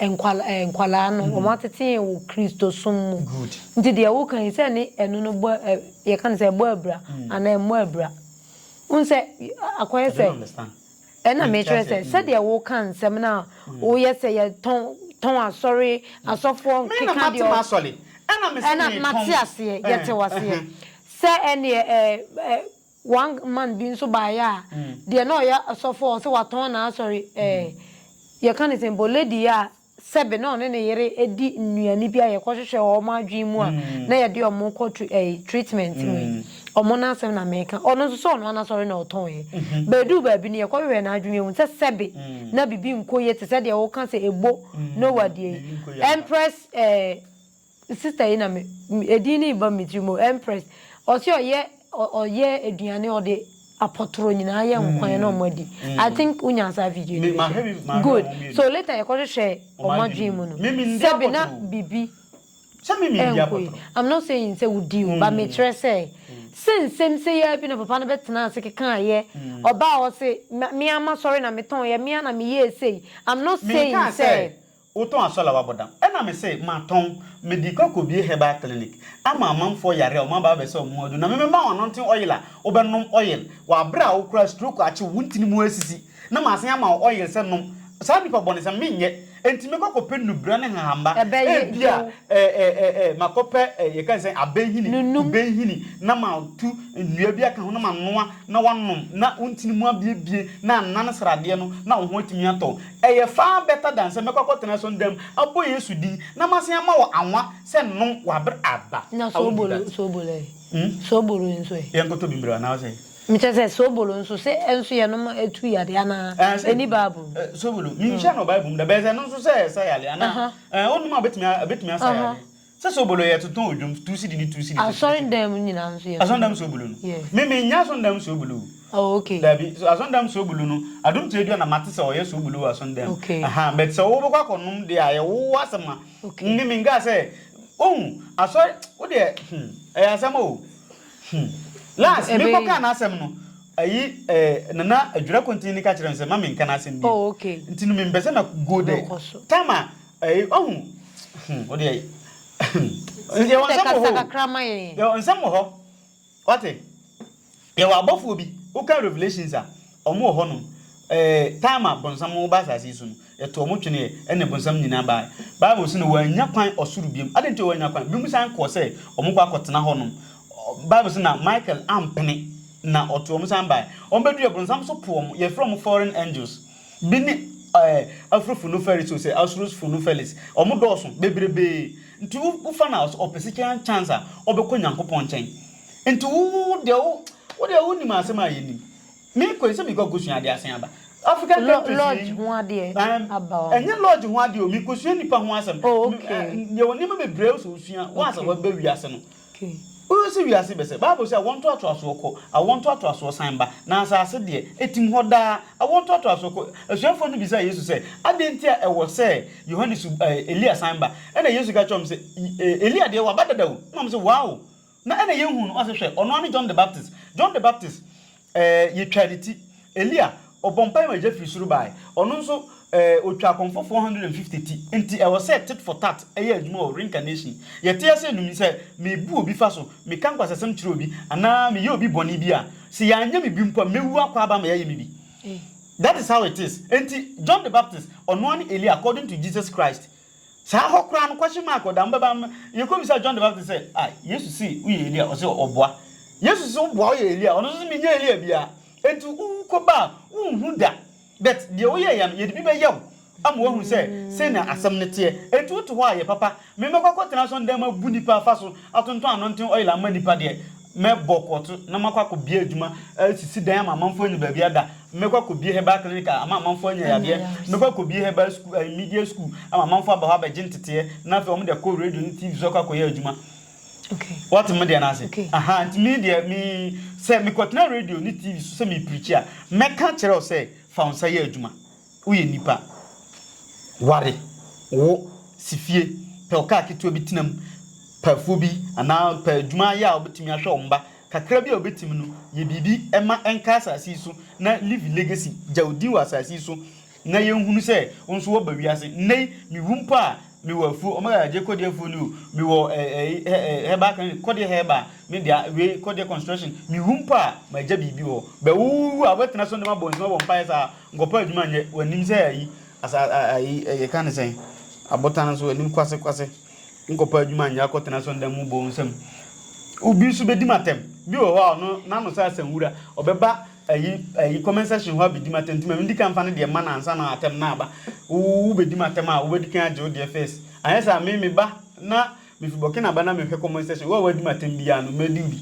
nkwadaa no, wɔatetee wo Kristosom mu. Nti deɛ woka yi, sɛ ɛne ɛno no bɔ, yɛka no sɛ ɛbɔ abira anaa ɛmmɔ abira. Wohu sɛ akɔyɛ sɛ, ɛna mekyerɛ sɛ, sɛdeɛ woka nsɛm no a woyɛ sɛ yɛtɔn asɔre, asɔfoɔ keka deɛ ɔ, ɛna mate aseɛ, yɛte wo aseɛ, sɛ ɛnneɛ One man bi nso baeɛ a, deɛ na ɔyɛ ɔsɔfoɔ a ɔse watɔn n'asɔre ɛɛ yɛka no sɛn bɔ lady a sɛbe na ɔne ne yere ɛdi nnuane bi a yɛkɔhwehwɛ wɔ wɔn adwene mu a na yɛde wɔn kɔ tru ɛɛ treatment no yi wɔn no asɛm na meka ɔno nso sɛ ɔno ara n'asɔre na ɔtɔnɛ but ɛduu baabi no yɛkɔhwehwɛɛ n'adwene yɛhu sɛ sɛbe na biribi nkɔ yie te sɛ deɛ woka sɛ ɛbo no wɔ deɛ yi Empress ɛɛ Sister yi na me edin no reba me tiri mu, Empress. Ɔse ɔyɛ ɔyɛ aduane ɔde apɔtoro nyinaa yɛ nkwan na ɔmo adi. I think wo nyaa saa video no bi so. Good. So later yɛkɔ hwehwɛɛ ɔmo adwene mu no, sɛbi na bibi ɛnkɔ yie. I'm not saying sɛ wo di o, but me kyerɛ sɛ, sɛ nsɛm sei ara bi na papa no bɛ tenaa ase kekaa yɛ, ɔbaa ɔse me ara ma sɔre na me tɔn yɛ, me ara na me yɛɛ sei. I'm not saying sɛ. Wotɔn asɔr a wɔabɔ dam? Nna mese, Matɔn. Mede kɔ akobue herbal clinic ama amamfoɔ yare a wɔaba abɛsa wɔn mu aduru, na memema wo anointing oil a wobɛnom oil wɔ aber a wo koraa stroke akye wo, wo ntini mu asisi, na masan ama wo oil sɛ nom. Saa nnipa bɔnesɛm, menyɛ. Enti mekɔ kɔpɛ nnubura ne nhahamma. Ebia makɔpɛ yɛka ne sɛn, abɛnhini, kubɛnhini, na matu nnua bi aka ho na manoa na woanom na wo ntini mu abuebue na anan sradeɛ no na wo ho atumi atɔ wo. Ɛyɛ far better than sɛ mɛkɔ akɔtena so nda mu abɔ Yesu din na masan ama wo anwa sɛ nom w'aber aba. Na I won't do soobolo, that. soobolo ɛ? Hmm? Soobolo nso ɛ? Yɛnkɔtɔ bi mbrɛ anaasɛ? Mekyerɛ sɛ soobolo nso, se ɛnso yɛnom a ɛtu yare anaa? Ɛɛ sɛ, Ɛnni Bible mu. ɛɛ, soobolo, menhyiaa no wɔ Bible mu da, bɛyɛ sɛ ɛno nso sɛ ɛsa yare anaa? Aha. Ɛɛ, wonom a ɛbɛtumi a, ɛbɛtumi asa Aha. yare. Sɛ soobolo yɛ to tɔn odwom two cedi ne two cedi. Asɔrndam nyinaa nso yɛ to. Asɔrndam soobolo no. Yeah. Me me nya asɔrndam soobolo o. Oh okay. Dabi so asɔrndam soobolo no adum tie dua na ma te sɛ ɔyɛ soobolo wɔ asɔrndam. Okay. Aha but sɛ wo bɛ kɔ akɔ nom de a yɛ wo wo asɛm a. Okay. Me me nka sɛ ohu asɔre wo deɛ hmm ɛyɛ asɛm o hmm last me kɔ kaa n'asɛm no ayi eh, nana adwira kontin ne ka kyerɛ me sɛ ma me nka n'asɛm bi. Oh okay. Nti no me mpɛ sɛ mɛ go there. Time a. Ɛyi ɔhu hmm o deɛ hmm yɛwɔ nsɛm wɔ hɔ yɛwɔ nsɛm wɔ hɔ wate yɛwɔ abɔfoɔ bi woka revelations a ɔmo wɔ hɔnom ɛɛ eh, time a bonsam ba asase yi so no yɛto ɔmo tweneɛ ɛne bonsam nyinaa baa bible so no wɔanya kwan ɔsoro biom ade nti wɔanya kwan biom san kɔɔ sɛ ɔmo kɔ akɔtena hɔnom bible so na michael ampene na ɔto ɔmo san baa ɔmo bɛdu yɛ bonsam so po ɔmo yɛfrɛ ɔmo foreign angels Bi ne ɛɛ Afrofunuferis o sɛ Asurusfunufelis. Wɔn dɔɔso bebrebee. Nti wo wo fa no a ɔsɛ ɔpɛ sika chance a ɔbɛkɔ Nyankopɔn nkyɛn. Nti wo wo wo deɛ wo wo deɛ wo nim asɛm a yɛ nim. Me kɔ yi sɛ me kɔ kosua adeɛ asen aba. African Lɔ countries yi lodge ho adeɛ ɛɛm aba hɔ. Ɛnyɛ lodge ho adeɛ o me kosua nipa ho asɛm. Oh Me okay. ɛɛ yɛ wɔ nneɛma bebreɛ a ɔsɛ osua once a Okay. waba wiase no. Ke. Wohwɛ sɛ wiase bɛsɛe. Bible se awoɔ ntoatoasoɔ kɔ, awoɔ ntoatoasoɔ san ba, na asase deɛ, etim hɔ daa. Awoɔ ntoatoasoɔ kɔ. Asuafoɔ no bisaa Yesu sɛ, Adɛn nti a ɛwɔ sɛ Yohane su, ɛɛ, Elia san ba? Ɛnna Yesu ka kyerɛɛ wɔn se, E, Elia deɛ, waba dada o. Ɛnna wɔn se, Wow! Na ɛnna yɛnhuu no. Ɔse, Hwɛ, ɔno ara ne John the Baptist. John the Baptist. Ɛɛ, yɛtwaa ne ti. Elia, ɔbɔɔ mpae ma egya firi soro bae. Ɔno nso, ɛɛ, ɔtwaa akɔmfoɔ 450 ti. Enti, ɛwɔ sɛ tit for tat yɛ adwuma wɔ reincarnation. Yɛte ase anum yi, sɛ mebu obi fa so, meka nkwasasɛm kyerɛ obi, anaa meyɛ obi bɔne bi a, sɛ yɛanyɛ me bi mpo a, mɛwu akɔ aba ama yɛayɛ me bi. That is how it is. Enti, John the Baptist, ɔnoa ne Elia according to Jesus Christ. Saa hɔ koraa no, kwahye maa akɔdaa mbɛbaa no yɛ komm bisaa John the Baptist sɛ, Ah, Yesu se woyɛ Elia? Ɔse ɔboa. Yesu se woboa, woyɛ Elia? Ɔno nso se menyɛ Elia biaa. Enti wo kɔba a, wonhu da. But deɛ woyɛeɛ no, yɛde bi bɛyɛ wo ama woahu sɛ sɛnea asɛm no teɛ. Enti wote hɔ a, yɛ papa. Memmɛkɔ akɔtena asɔndan mu abu nnipa afa so, atontɔn anonten oil amma nnipa deɛ, Mɛbɔ korɔto na makɔ akɔbie adwuma asisi dan ama amanfoɔ anya baabi ada. Mɛkɔ akɔbie herbal clinic a ama amanfoɔ anya yadeɛ. Mɛkɔ akɔbie herbal school, eh, media school ama amanfoɔ aba hɔ abɛgye nteteɛ na afei wɔn de akɔ radio ne TV so akɔ akɔyɛ adwuma. Okay. Wɔte me deɛ no ase. Okay. Aha, nti me deɛ me sɛ mekɔtena radio ne TV so sɛ mepirikyi a mɛka kyerɛ wo sɛ fa wo nsa yɛ adwuma. Woyɛ nipa. Ware, wo, si fie, pɛ ɔkaa ketewa bi tena mu, pɛ afuo bi anaa pɛ adwuma yɛ a wobɛtumi ahwɛ wo mma. Kakra bi a wobɛtumi no, yɛ biribi ma ɛnka asase yi so na leave a legacy, gya wo din wɔ asase yi so na yɛnhunu sɛ wo nso woaba wiase. Nnɛ yi, mewu mpo a, mewɔ afuo, Omega Adjei Kɔdeɛ afuo ni o, mewɔ herbal clinic, Kɔdeɛ Herbal, me dea, wei Kɔdeɛ Construction, mewu mpo a, magya biribi wɔ hɔ. Bɛ, wowu a, wobɛtena so ne mabɔ nsɛm abɔ mpaeɛ saa? Nkɔpɛ adwuma nyɛ. Wɔnim sɛ ayi, asa, a, ayi, ɛ, yɛka ne sɛn? Abotan no so, wɔnim kwase, kwase. Nkɔpɛ adwuma nyɛ, akɔtena asɔredan mu bɔ nsam. Obi nso bɛdi m'atɛm. Bi wɔ hɔ a, ɔno, n'ano sɛ asanwura. Ɔbɛba ayi, ayi, comment section hɔ abɛdi m'atɛm, nti ma mendi kan mfa ne deɛ mma no ansa na atɛm no aba. Wo, wobɛdi m'atɛm a, wobɛdi kan agye wo deɛ first. Anyɛ saa a, me, meba na Mifi Burkina ba na me hwɛ comment section, wo a w'adi me atɛm biaa no mɛdi wo bi,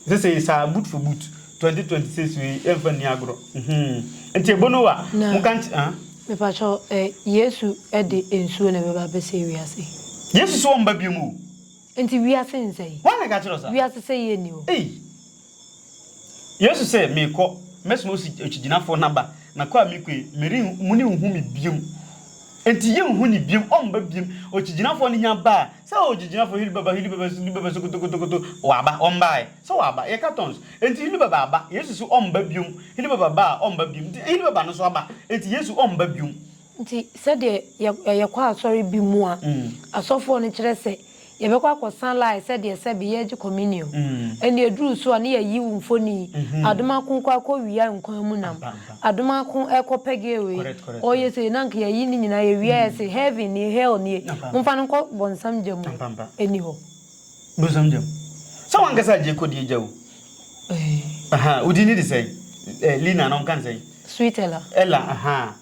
ɛsɛ sɛ yɛ saa boot for boot, 2026 wei yɛ nfa nni agorɔ mhmm nti ɛbono wa Na, mo ka nky ah. me pakyɛw ɛ, Yesu de nsuo na ɛbɛba abɛsɛe wiase yi? Yesu se ɔmba biom o. Nti wiase nsɛe? Why na ɛka kyerɛ wo saa? Wiase sɛeɛ nni hɔ. Ei! Yesu se, Merekɔ, mɛsoma okyigyinafo no aba, na kɔ a mekɔ yi, meren, morenhu me biom. Enti yenhu no biom, ɔmba biom. Okyigyinafo no nya baa, sɛ, Oh, okyigyinafo, Hili Baba, Hili Baba, Hili Baba, sokotokotokoto, waba, ɔmbae. Sɛ waba, yɛka tons. Enti Hili Baba aba. Yesu se ɔmba biom. Hili Baba baa, ɔmba biom. Enti Hili Baba no nso aba. Enti Yesu ɔmba biom. Nti sɛdeɛ yɛkɔ asɔre bi mu a, asɔfoɔ no kyerɛ sɛ. Yɛbɛkɔ akɔsa line sɛdeɛ sɛbe yɛregye communion. Ɛnna ɛduruu so a, na yɛayiw mfoni. Adomako rekɔ akɔwia nkwa mu nam. Adomako rekɔ pɛgɛɛ wei, ɔreyɛ sei. Na anka yɛayi ne nyinaa, yɛwia a yɛse, Heaven nie, Hell nie, momfa no nkɔ bɔnsam gya mu. Ɛnni hɔ. Bonsam gya mu. Sɛ w'ankasa agye kɔ deɛ gya o. Aha, wo din ne de sɛn? Eh, Lina anaa wɔka no sɛn? Sweet Ella. Ella, aha.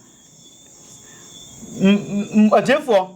M, m, m, atiefoɔ.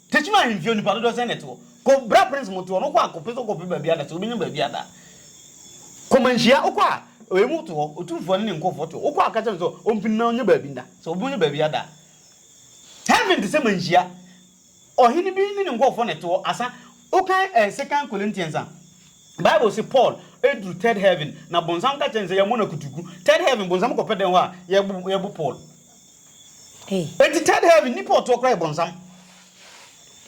Techiman ahemfie nnipa dodoɔ sɛn na ɛte hɔ? Kɔ bra prince mote hɔ no wokɔ a kɔpɛ sɛ wokɔpɛ baabi ada sɛ wobɛnya baabi ada kɔ manhyia wokɔ a emu te hɔ otumfoɔ ne ne nkɔfoɔ te hɔ wokɔ a ka kyerɛ no sɛ ɔmpini na ɔnyɛ baabi nda sɛ wobɛnya baabi ada heaven te sɛ manhyia ɔhene bi ne ne nkɔfoɔ na ɛte hɔ asa wokan eh, second Corinthians a Bible se Paul ɛduru third heaven na bonsam ka kyerɛ no sɛ yɛmmɔ no akutuku third heaven bonsam kɔpɛ dɛn hɔ a yɛbo Paul Ei. Enti third heaven nnipa ɔtoɔ koraa yɛ bɔnsam.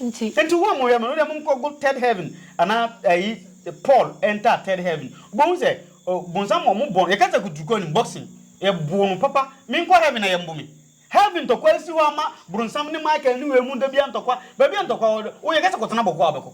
Nti. Enti wo a mo yɛ mo no deɛ mo nkɔ go third heaven anaa ɛyi Paul enter third heaven wo bɛ hu sɛ oh bɔnsam ɔmo bɔ yɛ kasa kutu kɔ anim boxing yɛ boo no papa me nkɔ heaven na yɛ mbo me heaven ntɔkwa esi hɔ ama bronsam ne Michael ne wei mu da bia ntɔkwa baabi a ntɔkwa wɔ wo yɛ kasa kɔ tena bɔkɔ a wobɛkɔ.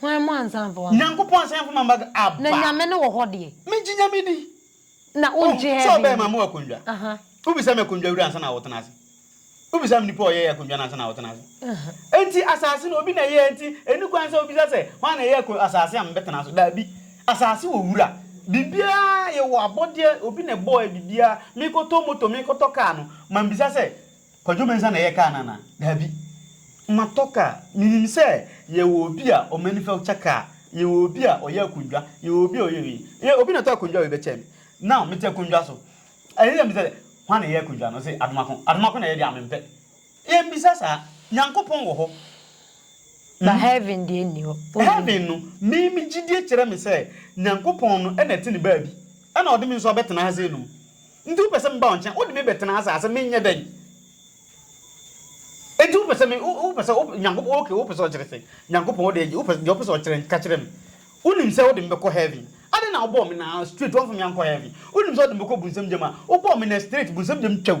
Hwan mu ansa mfa w'aba. Nyankopɔn ansa mfa m'aba aba. Na Nyame no wɔ hɔ deɛ. Me gye Nyame di. Na wo ngye heaven. Sɛ ɔbɛɛ ma mo akondwa. Wo bisa me akondwa wura ansa na wo tena ase. Wo bisa me nipa ɔyɛ yɛ akondwa no ansa na wo tena ase. Enti asase no obi na ɛyɛ enti ɛni kwan sɛ wo bisa sɛ hwan na ɛyɛ asase a me bɛ tena so daabi. Asase wɔ wura. Biribiara yɛ wɔ abɔdeɛ obi na ɛbɔɔ yɛ biribiara. Me kɔ tɔ moto me kɔ tɔ car no ma me bisa sɛ. Kwadwo Mensah na ɛyɛ kaa no anaa? Daabi. Matɔ kaa. Menim sɛ yɛwɔ obi a ɔmanufacture kaa, yɛwɔ obi a ɔyɛ akondwa, yɛwɔ obi a ɔyɛ wei. Yɛ, obi na ɔtɔ akondwa wei bɛkyɛɛ me. Now, mete akondwa so. Ɛyɛ sɛ mebisa sɛ, Hwan na ɛyɛ akondwa no? Ɔse, Adomako. Adomako na ɛyɛ deɛ a, mempɛ. Yɛmmisa saa. Nyankopɔn wɔ hɔ. Na heaven deɛ nni hɔ. Ɔnni. Heaven no, me, me gyidie kyerɛ me sɛ Nyankopɔn no na ɛte ne baabi. Ɛna ɔde me nso abɛtena ha sei nom. Nti wopɛ sɛ meba wo nkyɛn, wode me bɛtena ase a, sɛ menyɛ dɛn? Nti wopɛ sɛ me, wo, wopɛ sɛ, wopɛ, Nyankopɔn, okay, wopɛ sɛ ɔkyerɛ sɛ, Nyankopɔn, wode agye, wopɛ, deɛ wopɛ sɛ ɔkyerɛ no, ka kyerɛ me. Wonim sɛ wode me bɛkɔ Heaven. Adɛn na wobɔɔ me na, straight, woamfa me ankɔ Heaven? Wonim sɛ wode me bɛkɔ Bunsam gyam a, wobɔɔ me na, straight, Bunsam gyam twa o.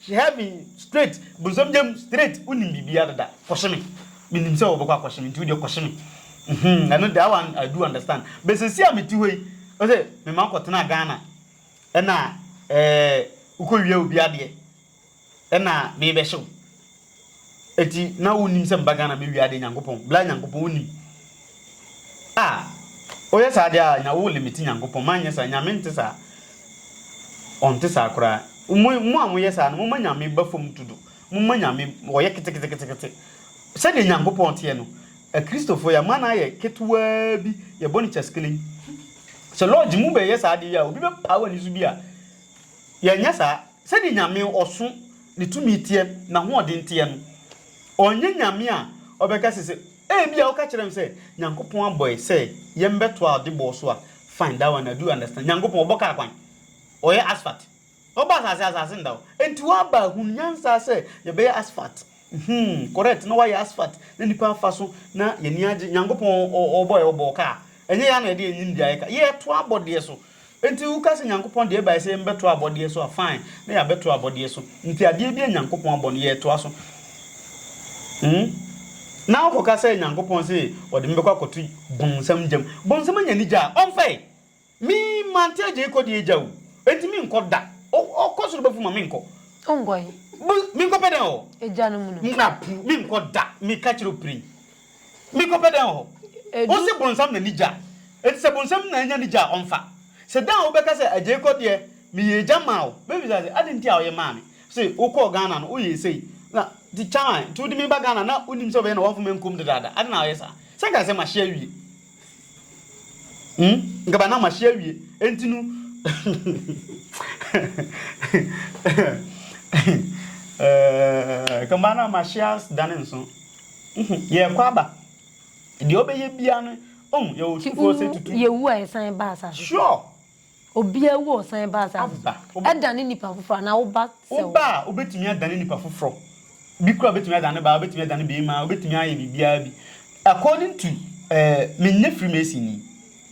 She held me straight, bonsam gya mu straight, wonim biribiara dada, kɔhye me, menim sɛ wɔbɛkɔ akɔhye me nti wodeɛ kɔhye me, uhmm ɛno that one I do understand, but seesei a mete hɔ yi, ɔse mema wokɔtenaa Ghana ɛna ɛɛɛ wokɔwia obi adeɛ ɛna merebɛhye wo. Eti na wo nim sɛ meba Ghana mɛ wiade Nyankopɔn bla Nyankopɔn wo nim ah oyɛ saa deɛ ah nya wo limiti Nyankopɔn ma nyɛ saa Nyame nte saa ɔnte saa koraa mo mo a mo yɛ saa no mo ma Nyame ba fam dodo mo ma Nyame ɔyɛ keteketekete sɛdeɛ Nyankopɔn teɛ no Akristofoɔ yɛ ama no ayɛ ketewaa bi yɛ bɔ no kyaskelen sɛ lodge mo bɛ yɛ saa adeɛ yi a obi bɛ paa wani so bi a yɛ nyɛ saa sɛdeɛ Nyame ɔso ne tumi teɛ, n'ahoɔden teɛ no. Ɔnyɛ Nyame a ɔbɛka se sɛ, Ebia woka kyerɛ me sɛ Nyankopɔn abɔ yɛ sɛ yɛmbɛtoa ɔde bɔɔ so a, fine, that one I do understand. Nyankopɔn, ɔbɔ kaa kwan. Ɔyɛ asphalt. Ɔbɔ asase, asase nda hɔ. Enti woaba ahunu nyansa sɛ yɛbɛyɛ asphalt. Mhmm, correct, na woayɛ asphalt na nnipa afa so na yɛn ani agye. Nyankopɔn, ɔ, ɔbɔ yɛ, ɔbɔɔ kaa. Ɛnyɛ yɛn ara na yɛde yɛn nimdeɛ ayɛ kaa. Yɛtoa abɔdeɛ so. Enti woka sɛ Nyankopɔn de ɛbae sɛ yɛmmɛtoa abɔdeɛ so a, fine, na yɛabɛtoa abɔdeɛ so. Enti adeɛ bi a Nyankopɔn abɔ no, yɛretoa so. Hmm? Na wokɔka sɛ Nyankopɔn se ɔde me bɛkɔ akɔto bonsam gyam. Bonsam anya ne gya a, ɔmfa ɛ. Me, mante agya yi kɔ deɛ agya o. Enti menkɔ da. O, ɔkɔ soro bɛfom a, menkɔ. Wonkɔ he? Bo, menkɔpɛ dɛn wɔ. Agya no mu no? Mmra puu, menkɔ da. Meka kyerɛ wo prin. Me kɔ pɛ dɛn wɔ hɔ? Wo se bonsam na ni gya a, enti sɛ bonsam na anya ni gya a ɔmfa. Se da a wo bɛka sɛ agyei kɔ deɛ me yɛ agya maa wo, me bisa se adɛn nti a wo yɛ maa me? Se wo kɔɔ Ghana no wo yɛɛ sei na ti kyaman nti wo de me ba Ghana na wo nim sɛ wo bɛyɛ na wɔmfa me nkum dedaada adɛn na wo yɛ saa? Sɛ nka asɛm ahye awie. Hmm? Nkaba na mahye awie. Enti no. Nkaba eh, na mahye asdane nso. Yɛkɔ aba. Deɛ ɔbɛyɛ biara no, ɔhu yɛwɔ sukuo sɛ tutu. Yɛwu a yɛsan ba asase. Sure. Obiara wu a ɔsan ba asase so. Ɛdane nipa foforɔ anaa wo ba sɛ wo. Wo ba a, wobɛtumi adane nipa foforɔ. Bi koraa wobɛtumi adane ne ba, wobɛtumi adane beema, wobɛtumi ayɛ biribiara bi. According to, eh, menyɛ Freemason ni,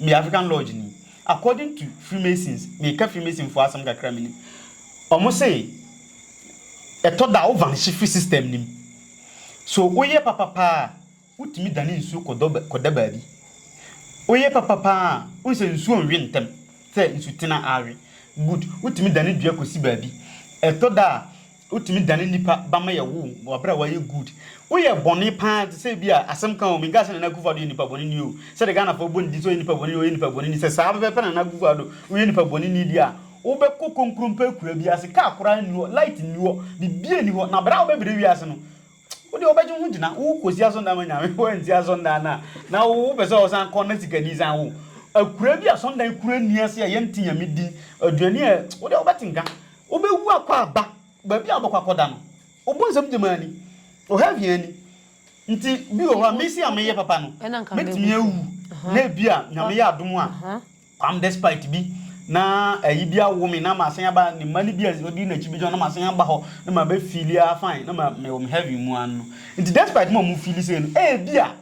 meyɛ African Lodge ni. According to Freemasons, meka Freemason foɔ asɛm kakra menim. Wɔn se, ɛtɔ da a, wo vanishye firi system no mu. So woyɛ papa paa a, Wotumi dane nsuo kɔda baabi. Woyɛ papa paa a, wohu sɛ nsuo nwe ntɛm sɛ nsutena awe. Good. Wotumi dane dua kɔsi baabi. Ɛtɔ da a, wotumi dane nnipa ba ma yɛwo wɔn wɔ berɛ a wɔayɛ good. Woyɛ bɔne paa te sɛ ebia, asɛm ka o, menkaa sɛ Nana Akufo-Addo yɛ nipa bɔneni o, sɛdeɛ Ghanafoɔ bɔ ne din sɛ ɔyɛ nipa bɔneni, ɔyɛ nipa bɔneni, sɛ saa pɛpɛɛpɛ Nana Akufo-Addo, woyɛ nipa bɔneni deɛ a, wobɛkɔ konkrompe akuraa bi ase, kaa koraa nni hɔ, light nni hɔ, biribiara nni hɔ, na berɛ a wobɛbrɛ wiase no, Wo deɛ wobɛgye wo ho gyina wo kɔsi asɔndan ma nyame wansi asɔndan no a na wo wopɛ sɛ ɔsan kɔ na sikani san wo akura bi asɔndan kura ni ase a yɛnte nyame din aduane a wo deɛ wobɛte nka wobɛwu akɔ aba baabi a wobɛkɔ akɔda no wobɔ nsɛm gyamaa ni ɔha hia ni nti bi wɔ hɔ a mesi a meyɛ papa no mɛtumi awu na ebi a nyame yɛ adom a Kwam despite bi na ayi bi awo me na masan aba ne mma no bi a ɔdi n'akyi bi gyina na masan aba hɔ na ma bɛ feeli ah fine na ma mewɔ me heaven mu ano no nti despite ma ɔmo feeli sei no ebi a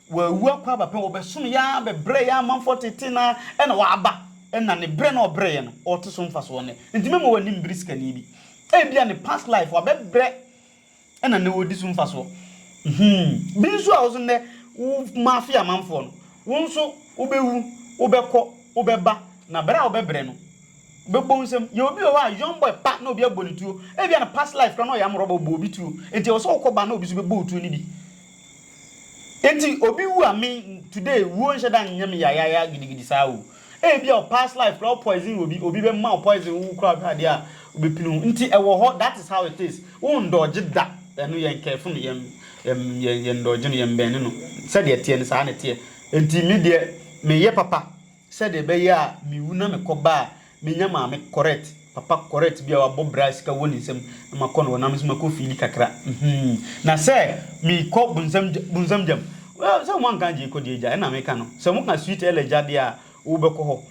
wawu akɔ aba pɛn wɔbɛsom yɛ ara bɛbrɛ yɛ amanfoɔ tete na ɛna waba ɛna ne brɛ na ɔbrɛ yɛ no ɔte so mfasoɔ nɛ nti mɛma wɔ anim bere sikani bi ebi a ne past life wabɛbrɛ na nnɛ wɔredi so mfasoɔ. Hmm. Bi nso a wo nso nnɛ wo mafe amanfoɔ no, wo nso wobɛwu, wobɛkɔ, wobɛba, na berɛ a wobɛbrɛ no, wobɛbɔ wo nsam. Yɛwɔ bi wɔ hɔ a, young boy pa na obi abɔ no tuo. Ebia ne past life koraa na ɔyɛ amorɔba, ɔbɔɔ obi tuo. Enti ɛwɔ sɛ wokɔ ba na obi nso bɛbɔ wo tuo no bi. Enti obi wu a me today wuo nhyɛ da nyɛ me yayaya gidigidi saa o. Ebia wo past life koraa wo poison obi, obi bɛma wo poison wo koraa wohwɛ adeɛ a wobɛpini wo. Nti ɛwɔ hɔ that is how it is. Wo ndɔɔgye da ɛno yɛn careful no, yɛn yɛn yɛn ndɔɔgye no, yɛn bɛnne no. Sɛdeɛ ɛteɛ no saa na ɛteɛ. Enti me deɛ meyɛ papa. Sɛdeɛ ɛbɛyɛ a mewu na mekɔba a, menya maame correct, papa correct bi a wabɔ bra a sika wɔ ne nsam na makɔ no hɔ na me nso makɔ fiili kakra. Mhmm. Na sɛ mekɔ bonsam gya, bonsam gyam, well, sɛ wɔanka agye kɔ deɛ gya na meka no. Sɛ wɔka sweet Ella gya deɛ a, wobɛkɔ hɔ.